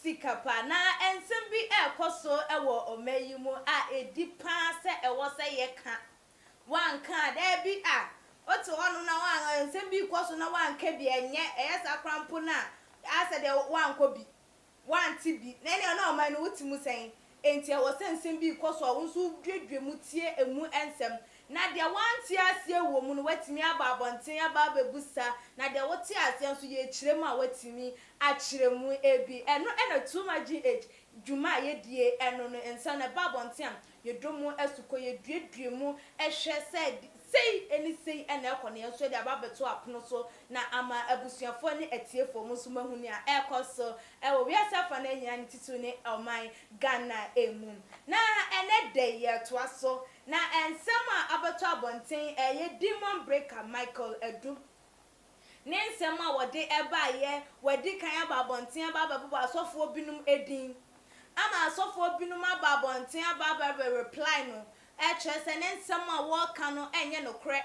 sika pa, na nsɛm bi rekɔ so wɔ ɔman yi mu a edi paa sɛ ɛwɔ sɛ yɛka. Woanka a, dabi a, wote hɔnom na woan, nsɛm bi rekɔ so na woanka bi a, ɛnyɛ, ɛyɛ saa koraa mpo no a, ayɛ sɛ deɛ woankɔ bi, woante bi, na ɛnneɛ na ɔman no, wote mu sɛn? Enti ɛwɔ sɛ nsɛm bi rekɔ so a wo nso woduadua mu tie emu nsɛm, na deɛ woante aseɛ wɔ mu no woatumi aba abɔnten aba abɛbisa, na deɛ wote aseɛ nso yɛrekyerɛ mu a woatumi akyerɛ mu bi. Ɛno na Too Much GH dwuma a yɛdie ɛno no nsa no, ɛba abɔnten a yɛdɔ mu asukɔ, yɛduadua mu hwɛ sɛ sei ne sei na ɛkɔ na yɛn nso yɛde aba abɛto apono so na ama abusuafoɔ ne atiefoɔ mo nso moahu nea ɛrekɔ so Ɛwɔ wiase afa no nyinaa ne titiriw ne ɔman Ghana mu. Na ɛnnɛ da yi yɛretoa so na nsɛm a abɛtɔ abɔnten ɛyɛ Demon Breaker Michael Adu ne nsɛm a wɔde baeɛ, wɔadi kan aba abɔnten aba abɛbobɔ asɔfoɔ binom din ama asɔfoɔ binom aba abɔnten aba abɛreply no kyerɛ sɛ ne nsɛm a wɔreka no nyɛ nokorɛ.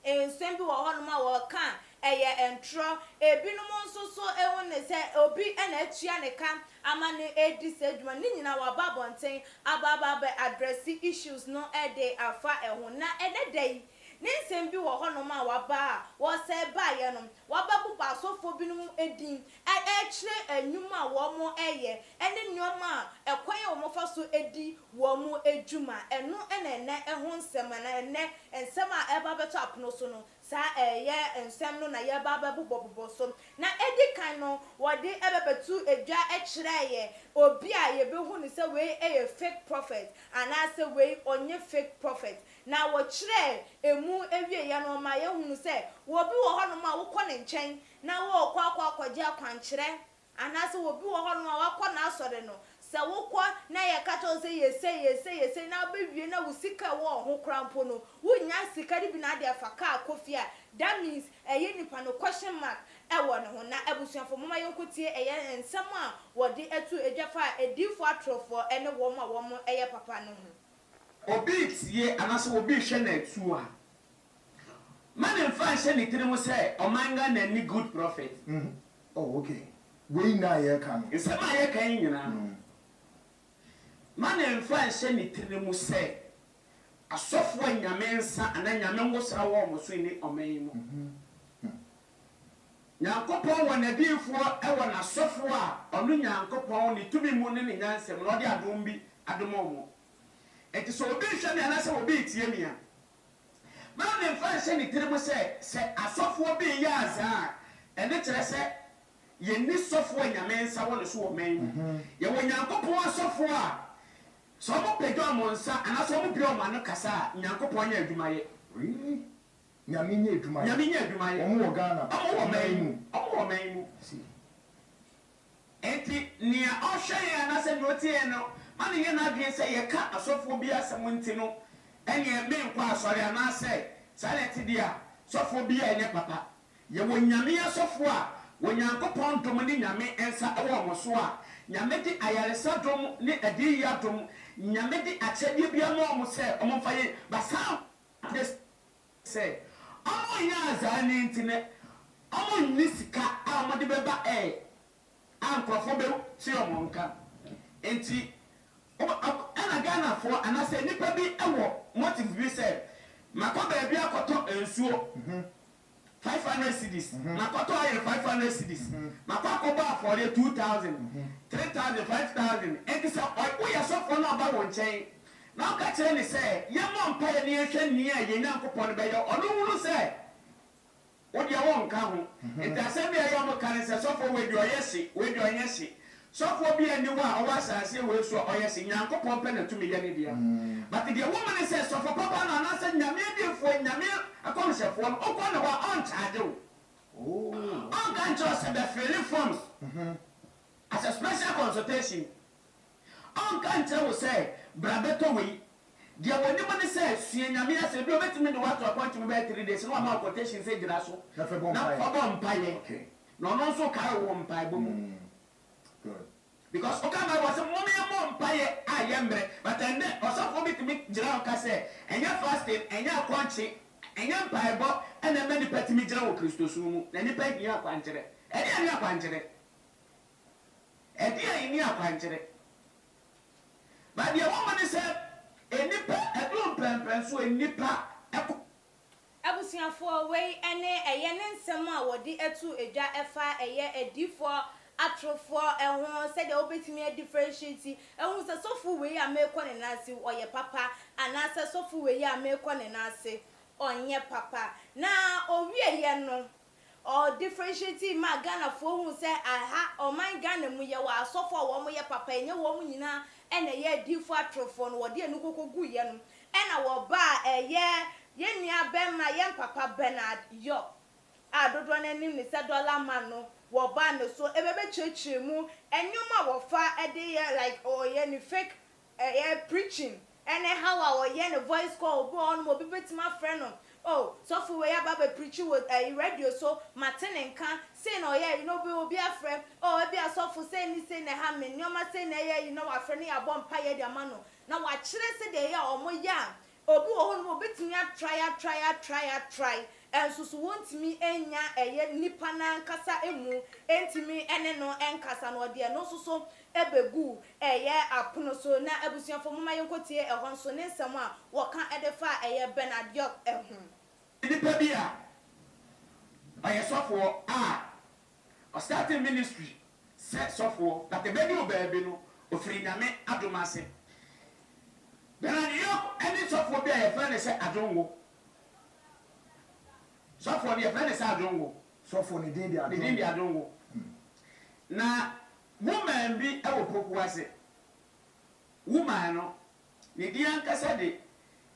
Nsɛm bi wɔ hɔnom a wɔka a, ɛyɛ ntorɔ. Ebinom nso so hu no sɛ obi na atua ne ka ama no adi saa dwuma no. Ne nyinaa wɔaba abɔnten aba aba abɛ address issues no de afa ho. Na ɛnnɛ da yi, ne nsɛm bi wɔ hɔnom a wɔaba a wɔsɛe baeɛ no, wɔabɛbobɔ asɔfoɔ binom din ɛrekyerɛ nnwuma a wɔyɛ ne nneɛma a ɛkwan a wɔfa so di wɔn dwuma. Ɛno na ɛnnɛ ho nsɛm anaa ɛnnɛ nsɛm a ɛreba abɛto apono so no, saa ɛyɛ nsɛm no na yɛreba abɛbobɔbobɔ so. Na edi kan no, wɔde bɛbɛto dwa kyerɛɛ yɛn obi a yebehu no sɛ wei yɛ fake prophet anaasɛ wei ɔnyɛ fake prophet. Na wɔkyerɛɛ emu awieeɛ no, wɔma yɛhunu sɛ wɔ obi wɔ hɔnom a wokɔ ne nkyɛn na wɔrekɔ akɔ akɔgye akwankyerɛ, anaasɛ obi wɔ hɔnom a wakɔ n'asɔre no, sɛ wokɔ na yɛka kyerɛ wo sɛ yɛ sei, yɛ sei, yɛ sei, na wobɛwie na wo sika a ɛwɔ wo ho koraa mpo no, wonnya sika no bi na wode afa kaa kɔ fie a, that means ɛyɛ nipa no question mark wɔ ne ho. Na abusuafo, momma yɛnkɔtie ɛyɛ nsɛm a wɔde to dwa fa adiyifoɔ atorofoɔ ne wɔn a wɔyɛ papa no ho. Obi retie anaasɛ obi rehwɛ no atuo a. Ma ne nfa nhyɛ ne tirim sɛ ɔman Ghana nni good prophet. Oh ok. Wei nyinaa a yɛreka no. Nsɛm a yɛreka yi nyinaa no, ma ne nfa nhyɛ ne tirim sɛ asɔfo a Nyame nsa anaa Nyame ngosra wɔ wɔn so nni ɔman yi mu. Nyankopɔn wɔ n'adiyifoɔ wɔ n'asɔfo a ɔno Nyankopɔn ne tumi mu ne ne nyansa mu na ɔde adom bi adom wɔn. Enti sɛ obi nhwɛ me anaa sɛ obi ntie me a, Maame mfa nhyɛ ne tirim sɛ, sɛ asɔfoɔ bi reyɛ azaa a, ɛno kyerɛ sɛ yɛnni sɔfoɔ a Nyame nsa wɔ ne so wɔ man mu. Yɛwɔ Nyankopɔn asɔfoɔ a, sɛ wɔpagya wɔn nsa anaasɛ wɔbue wɔn ano kasa a, Nyankopɔn nya adwuma yɛ. Really? Nyame nya adwuma yɛ? Nyame nya adwuma yɛ. Wɔn wɔ Ghana? Wɔn wɔ man mu. Wɔn wɔ man mu. I see. Enti, nea ɔhwɛ yɛn anaasɛ nea otie yɛn no ma no nyɛ n'adwene sɛ yɛka ɔsɔfoɔ bi asɛm nti no, ɛnneɛ merenkɔ asɔre anaasɛ saa na ɛte deɛ a, sɔfoɔ bi a ɛnyɛ papa. Yɛwɔ Nyame asɔfoɔ a Onyankopɔn dom ne Nyame nsa wɔ wɔn so a Nyame de ayaresa dom ne adiyie adom, Nyame de akyɛdeɛ biara ma wɔn sɛ wɔmfa yɛ basaa. Sɛ ɔmo nyɛ azaa no nti no ɔmo nni sika a ɔmo de bɛba ɛɛ a nkorɔfoɔ bɛ te ɔmo nka nti ɛna Ghanafoɔ anasɛ nnipa bi wɔ motive bi sɛ makɔ baabi akɔtɔ nsuo five hundred cedis makɔtɔ oil five hundred cedis makɔ akɔbɔ afɔreɛ two thousand three thousand five thousand nti sɛ woyɛ sɔfoɔ na ɔba wo nkyɛn Na ɔka kyerɛɛ me sɛ yɛmmɔ mpaeɛ na yɛnhwɛ nea yɛn Nyankopɔn bɛyɛ, ɔno nhunu sɛ wo deɛ wonka ho. Enti asɛm bi a ɛyɛ a wɔka ne sɛ, sɔfoɔ wei deɛ ɔyɛ hye, wei deɛ ɔnyɛ hye. Sɔfoɔ biara nni hɔ a ɔwɔ asaaseɛ wei so a ɔyɛ hye, Nyankopɔn pɛ na tumi yɛ ne dea. But deɛ woma ne sɛ sɔfo papa no anaasɛ Nyame adiyifoɔ, Nyame nkɔmhyɛfoɔ no, wokɔ ne hɔ a ɔnkyagye wo. Ɔnka nkyerɛ wo sɛ bɛfele forms as a special consultation. Ɔnka nkyerɛ wo sɛ, 'Bra bɛtɔ wei. Deɛ ɔnim ne sɛ, sua Nyame asɛm. Ebia ɔbɛtumi de wo ato appointment bɛyɛ three days na wama wo quotation sɛ gyina so na fa bɔ mpaeɛ. Na ɔno nso kae wo wɔ mpaebɔ mu. Because woka Bible sɛ, Mommɔ mpaeɛ a yɛmmerɛ. But ɛnnɛ, ɔsɔfoɔ bi tumi gyina hɔ ka sɛ, ɛnyɛ fasting, ɛnyɛ akɔnkye, ɛnyɛ mpaebɔ na ɛma nnipa tumi gyina wɔ Kristosom mu. Na nnipa hia akwankyerɛ. Ɛdeɛn ne akwankyerɛ? ɛde a enni akwankyerɛ. Na deɛ ɛwɔ mu ne sɛ, nnipa aduru mpɛnpɛnso a nnipa kɔ. Abusuafoɔ, wei ne ɛyɛ ne nsɛm a wɔde ato edwa ɛfa ɛyɛ adiyifoɔ atorofoɔ ho, sɛdeɛ wobɛtumi a differentiate ahu sɛ sɔfo wei a merekɔ ne nan ase ɔyɛ papa anaasɛ sɔfo wei a merekɔ ne nan ase ɔnyɛ papa. Na ɔwieɛ no Ɔɔ differentiating maa Ghanafoɔ huu sɛ aha, ɔman Ghana mu, yɛwɔ asɔfoɔ a wɔn yɛ papa, ɛnyɛ wɔn nyinaa na ɛyɛ adiyifoɔ atorofoɔ no, wɔde anu koko guiɛ no, ɛna wɔbaa ɛyɛ yɛn nua bɛma, yɛn papa Bernard York a dodoɔ no ara nim no sɛ Dollar Man no, wɔbaa ne so bɛbɛkyerɛkyerɛ mu nnoɔma a wɔfa de yɛ like ɔyɛ ne fake Ɛyɛ preaching ɛne how a ɔyɛ ne voice call obi wɔ hɔ nom obi bɛtumi afrɛ no oh sɔfo wei aba abɛ preachi wɔ ɛyi radio so mate ne nka sei na ɔyɛ you know obi obi afrɛ oh ebia sɔfo sei ne sei na ɛha me nnoɔma sei na ɛyɛ you know wafrɛ na yɛabɔ mpaeɛ de ama no na wakyerɛ sɛdeɛ ɛyɛ a wɔyɛ a Obi wɔ hɔnom a obetumi atrae atrae atrae atrae nso so wontumi nnya ɛyɛ nipa no ankasa mu ntumi ne no nkasa no ɔde ɛno nso so begu ɛyɛ apono so na abusuafo momma yɛnkɔtie ɛhɔ nso ne nsɛm a wɔka de fa ɛyɛ Bernard York ho. Nipa bi a ɔyɛ sɔfoɔ a Ɔ startee ministry sɛ sɔfoɔ but ɛbɛduru baabi no ɔfiri Nyame adom ase. Brian York ne sɔfoɔ bi a yɛfrɛ no sɛ Adwonwo. Sɔfoɔ no yɛfrɛ no sɛ Adwonwo. Sɔfoɔ no din de Adwonwo. Ne din de Adwonwo. Na woman bi wɔ Poku ase. Woman no ne din ankasa de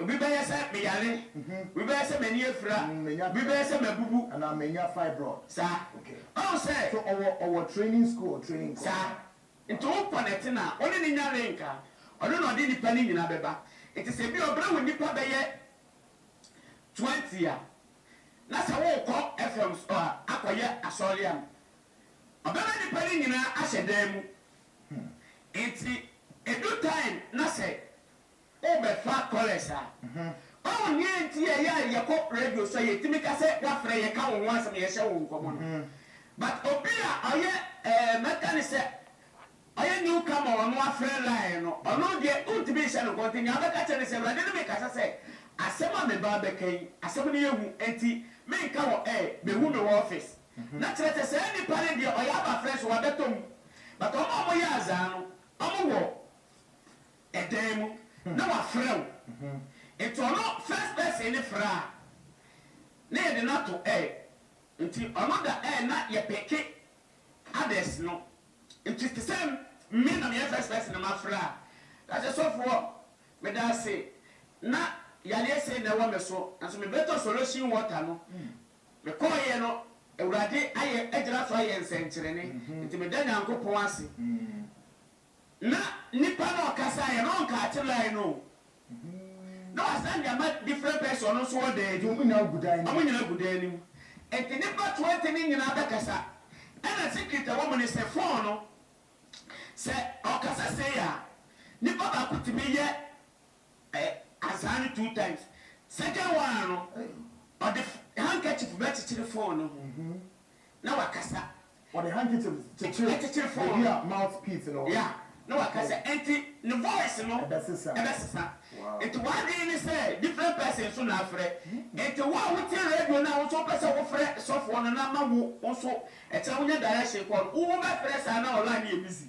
Obi bɛyɛ sɛ meyare, obi bɛyɛ sɛ m'ani afira, obi bɛyɛ sɛ mabubu. Anaa manya fibroid. Saa. Okay. Ɔhu sɛ. So ɔwɔ ɔwɔ training school or training course. Saa. Nti wo connect no a, wo ne no nya link a, ɔno na ɔde nnipa no nyinaa bɛba. Nti sɛ ebia ɔbrɛ wo nnipa bɛyɛ twenty a, na sɛ worekɔ FM so a, akɔyɛ asɔre a, ɔbɛma nnipa no nyinaa ahyɛ dan mu. Nti edu time na sɛ Wobɛfa kɔlɛs a, ɔwo nea nti a ɛyɛ a yɛkɔ radio so a yɛtumi ka sɛ woafrɛ yɛka wo ho asɛm yɛhyɛ wo nkɔmmɔ no but obi a ɔyɛ eh mɛka no sɛ ɔyɛ new comer ɔno afrɛ line no ɔno deɛ wontumi nhyɛ no nkɔmmɔ nti nea wobɛka kyerɛ no sɛ Awurade ne me kasa sɛ asɛm a me ba rebɛka yi asɛm no yɛ hu nti menka wɔ eh bɛhu me wɔ office na kyerɛ sɛ saa nipa no deɛ ɔyɛ aba frɛ so wabɛtɔ mu but wɔn a wɔyɛ azaa no wɔn wɔ ɛdan mu na wafrɛ wo nti ɔno first person no frɛ a na yɛde no ato air nti ɔno da air na yɛ peke others no nti te sɛ me na meyɛ first person na mafrɛ a na sɛ sɔfoɔ medaase na yareɛ sei na ɛwɔ me so nanso mebɛtɔ solution water no mekɔɔyɛ no Awurade ayɛ agyina so ayɛ nsɛnkyerɛnne nti meda Nyankopɔn ase. Na nipa no ɔkasaeɛ no ɔnkaa akyerɛɛ no o na wasan de ama different person ɔno nso wɔ dan Nti mu ɔmo nyinaa gu dan no ɔmo mu. nyinaa gu dan no mu nti nipa twenty no nyinaa bɛkasa ɛna secret a ɛwɔ mu ne sɛ phone no sɛ ɔkasa sei a nipa baako tumi yɛ ɛ azaan no two times second one no Ei. ɔde handkerchief bɛkyekyere phone no ho na wakasa. Wɔde handkerchief kyekyere baabi a mouth piece no wɔ no. Na waka sɛ, Enti ne voice no bɛsesa. Enti w'adwene ne sɛ different person nso na afrɛ. Enti wo a wotie radio no a wo nso wopɛ sɛ wofrɛ sɔfoɔ no na ama wo nso kyerɛ wonya direction kɔ no, wobɛfrɛ saa na wo line no yɛ busy.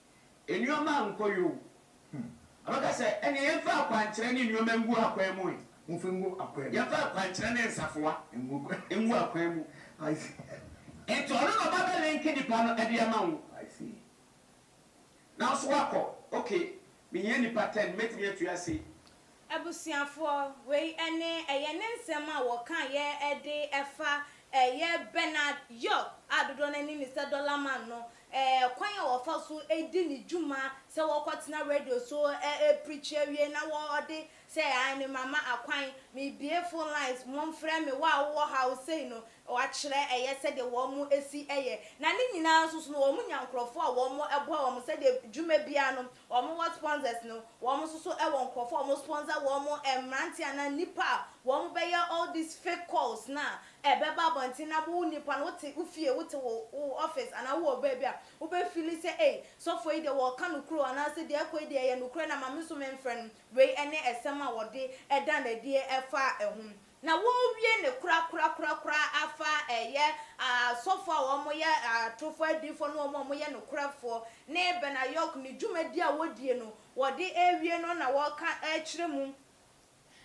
Nneɛma ankɔ yie o. Ɔbɛka sɛ, Ɛnneɛ yɛmfa akwankyerɛ ne nneɛma ngu akwan mu ɛ. Momfa ngu akwan mu. Yɛmfa akwankyerɛ ne nsafoa ngu akwan mu. I see. Nti ɔno na ɔba bɛlinke nnipa no de ama wo. I see. Na wo nso woakɔ, okay, mehia nnipa ten, mɛtumi atua sei. Abusuafoɔ, wei ne ɛyɛ ne nsɛm a wɔkaeɛ de fa ɛyɛ Bernard York a dodoɔ no ara nim no sɛ Dollar Man no kwan a ɔfa so di ne dwuma sɛ wɔkɔtena radio so preachi awie na wɔde sɛ ae no mama akwan mebue phone lines monfrɛ me wo a wowɔ haw sei no wɔakyerɛ ɛyɛ sɛdeɛ wɔn si yɛ na ne nyinaa nso so no wɔnya nkorɔfoɔ a wɔboa wɔn sɛdeɛ dwuma biara no Wɔn wɔ sponsors no, wɔn nso so wɔ nkurɔfoɔ a wɔn sponsor wɔn, mmeranteɛ anaa nnipa a wɔn bɛyɛ all these fake calls no a ɛbɛba abɔnten na wo nnipa no wote wo fie, wote wo wo office anaa wo wɔ baabi a wo bɛ feeli sɛ ei sɔfoɔ yi deɛ wɔɔka nokore o anaa sɛ deɛ ɛkɔ yi deɛ ɛyɛ nokorɛ na ma me nso me mfrɛ no, wei ne ɛsɛm a wɔde da no adie ɛfa ho. Na wɔawie no korakorakorakora afa ɛyɛ asɔfoɔ a wɔyɛ atorofoɔ adiyifoɔ ne wɔn a wɔyɛ nokorɛfoɔ ne Benayoc ne dwumadie a wɔdie no wɔde rewie no na wɔreka rekyerɛ mu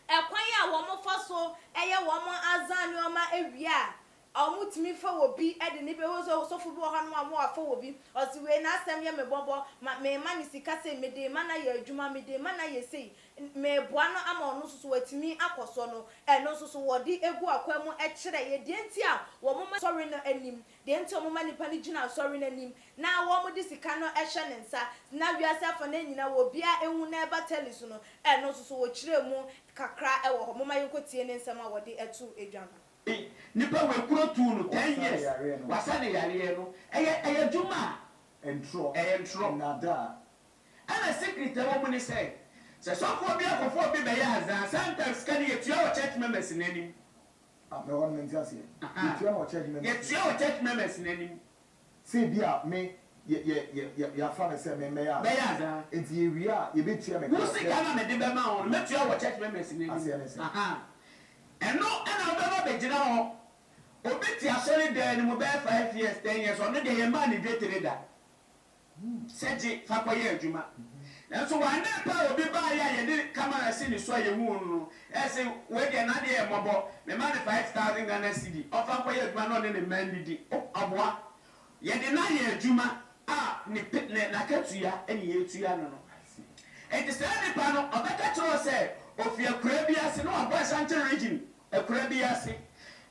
ɛkwan a wɔfa so yɛ wɔn Azan nnoɔma wie a A wɔtumi fa wɔ bi de ne bɛ hose ɔsɔfo bi wɔ hɔ nom a wɔn afa wɔ bi ɔse wei n'asɛm yɛ me bɔbɔ ma mema no sika sei mede ma no ayɛ adwuma mede ma no ayɛ sei meboa no ama ɔno nso so watumi akɔ soɔ no ɛno nso so wɔde gu akwan mu kyerɛ yɛ deɛ nti a wɔn ma asɔre no anim deɛ nti a wɔn ma nnipa no gyina asɔre no anim na wɔn de sika no hyɛ ne nsa na wiase afa no nyina wɔ biaa ɛhu na ɛba tele so no ɛno nso so wɔkyerɛ mu kakra wɔ hɔ momma yɛnkɔ tie ne nsɛm a wɔde to dwa no. Nipa wei kuro tuu no ten years wasa ne yareɛ no ɛyɛ ɛyɛ dwuma a ɛyɛ ntorɔ ɛna secret ɛwɔ mu ne sɛ sɛ sɔfoɔ bi akɔfa obi bɛyɛ aza a sometimes sika no yɛtua wɔ church members no anim yɛtua wɔ church members no anim. Sɛ ebia me, yɛ, yɛ, yɛ, yɛ, yɛafa me sɛ memmɛyɛ anaa? Bɛyɛ anaa? Enti yɛwie a, yɛbɛtua me Wo kra sika no a mede bɛma wo no, mɛtua wɔ church members no anim. Aseɛ ne sɛn? Aha. Ɛno na wobɛma bɛgyina hɔ. Obi te asɔredan no mu bɛyɛ five years, ten years, ɔno deɛ yɛmmaa no dwetire da. sɛ gye fa kɔyɛ adwuma. Nanso wannɛ pɛ a obi baeɛ a yɛde camera si ne so a yɛhuu no no, ɛse wei deɛ n'adeɛ yɛ mmɔbɔ, mema no five thousand Ghana cedi, ɔmfa nkɔyɛ adwuma na ɔne ne mma nnidi. Oh, aboa! Yɛde no ayɛ adwuma a ne pe, ne, n'akatua na yɛretua no no. Enti saa nipa no, ɔbɛka akyerɛ wo sɛ ofi akuraa bi ase na wabɔ Ashanti region, Akura bi ase.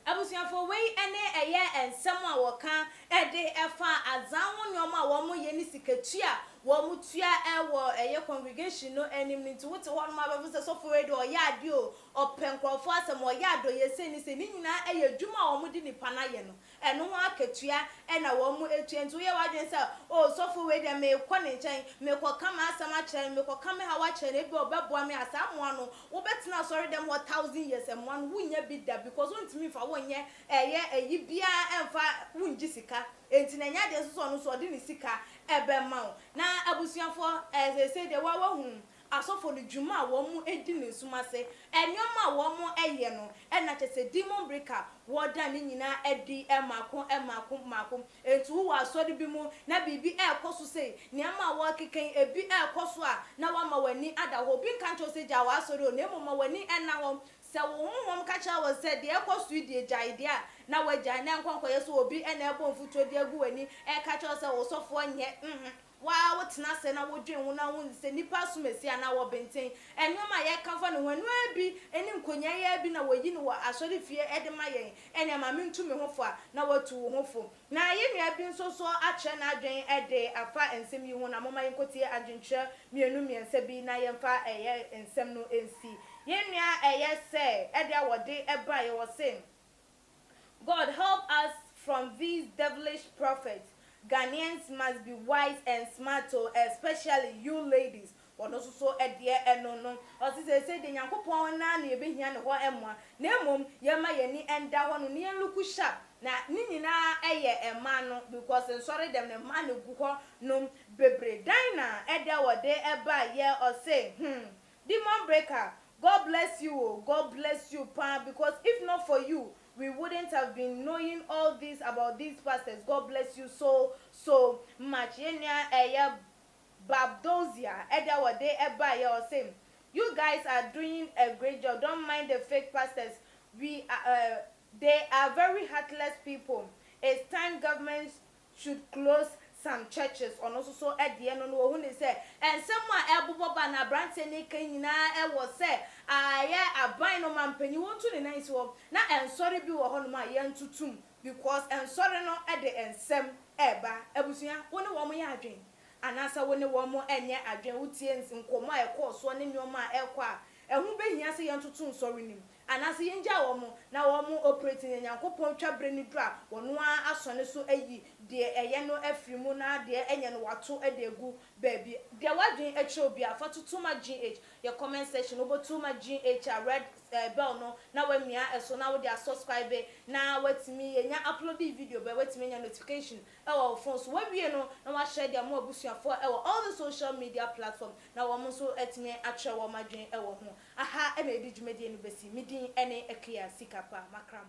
Abusuafo, wei ne ɛyɛ nsɛm a wɔka de fa Azan ho nneɛma a wɔyɛ ne sikatua a wɔtua wɔ ɛyɛ congregation no anim no nti wote hɔnom a wobɛfo sɛ sɔfo wei deɛ ɔyɛ adeɛ o, ɔpɛ nkurɔfoɔ asɛm, ɔyɛ adɔyɛsɛni sei, ne nyinaa yɛ adwuma a wɔde nipa no ayɛ no. Ɛno ho akatua na wɔatua. Nti woyɛ w'adwene sɛ, O ɔsɔfo wei deɛ, merekɔ ne nkyɛn, merekɔka m'asɛm akyerɛ no, merekɔka me haw akyerɛ no, ebia ɔbɛboa me a, saa mmoa no, wobɛtena asɔredɛm hɔ thousand years, mmoa no, wonnya bi da because wontumi mfa wo nyɛ ɛyɛ ayi biara mfa, wongye sika. Enti na ɛnyɛ adeɛ nso sɛ ɔno nso ɔde ne sika bɛma wo. Na abusuafoɔ, seesei deɛ wo ara woahunu, asɔfo no dwuma a wɔdi no nsum ase, nneɛma a wɔyɛ no, na kyerɛ sɛ demon breaker a wɔda ne nyinaa adi mmaako mmaako mmaako. Enti wowɔ asɔre bi mu na biribi rekɔ so sei, nneɛma a wɔrekeka yi, ebi rekɔ so a, na woama w'ani ada hɔ. Obi nka nkyerɛ wo sɛ gyae w'asɔre o, na mmom ma w'ani nna hɔ. Sɛ wo honhom ka kyerɛ wo sɛ deɛ ɛrekɔ so yi deɛ gyae deɛ a, na woagyae, na ɛnkɔ nkɔyɛ sɛ obi na ɛrebɔ mfuturo de agu w'ani reka kyerɛ wo sɛ wo sɔfoɔ nyɛ. Wo ara wo tena ase na wo dwen wo na wo hu sɛ nnipa asumasi anaa wɔ benten. Nnoɔma a yɛka fa ne ho, ɛno ara bi ɛne nkonyaayi ara bi na wɔ yi no wɔ asɔre fie ɛde ma yɛn. Ɛnea ma me ntu me ho fo a na watu wo ho fo. Na yɛnua bi nso so akyerɛ n'adwen ɛde afa nsɛm yi ho na momma yɛnkɔ tie adwenkyerɛ mmienu mmiɛnsa bi na yɛmfa ɛyɛ nsɛm no nsi. Yɛnua ɛyɛ sɛ ɛde a wɔde ɛbaeɛ wɔ se. God help us from these devilish prophets Ghanaians must be wise and smart o especially you ladies ɔno nso so deɛ ɛno no ɔse seesei deɛ Nyankopɔn no ara na yɛbɛhia ne hɔ mmoa na mmom yɛmma yɛn ani nda hɔ no na yɛn look sharp na ne nyinaa yɛ mmaa no because nsɔre dɛm no mmaa na ɛgu hɔ nom bebree dan na ɛdɛ wɔde baayɛ ɔse hmm Demon breaker God bless you o God bless you paa because if not for you we wouldn't have been knowing all these about these pastors God bless you so so much yɛn nua ɛyɛ Babdosia ɛde a wɔde baeɛ ɔse you guys are doing a great job don't mind the fake pastors we are uh, they are very heartless people it's time government should close some churches ɔno nso so deɛ no no ɔhu ne sɛ nsɛm a ɛrebobɔ ba na abranteɛ no reka yi nyinaa ɛwɔ sɛ ayɛ aban no ma mpanyin wɔtu ne nan si hɔ na nsɔre bi wɔ hɔ nom a yɛntotom because nsɔre no de nsɛm ɛreba abusua wo ne wɔn yɛ adwen anaasɛ wo ne wɔn ɛnyɛ adwen wotie nkɔmmɔ a ɛkɔɔ soɔ ne nnoɔma a ɛrekɔ a ɛho bɛhia sɛ yɛntoto nsɔre no mu Anaasɛ yɛngyaa wɔn na wɔn operate na Nyankopɔn twa berɛ no duru a wɔno ara asɔne so ayi deɛ ɛyɛ no afiri mu na deɛ ɛnyɛ no wɔato de agu baabi. Deɛ w'adwene kyerɛ wo biara, fa toto ma GH. Yɛ comment section, wobɛto ma GH a, red bell no na wamia ɛso na wode asubscribe na watumi, yɛnya uploade video biara watumi anya notification wɔ wo phone so. Wawie no na wahyɛ de ama w'abusuafoɔ wɔ all the social media platform na wɔn nso atumi akyerɛ wɔn adwene wɔ ho. Aha na yɛde dwumadie no bɛsi. Me din ne Akia Sika Pa Makram.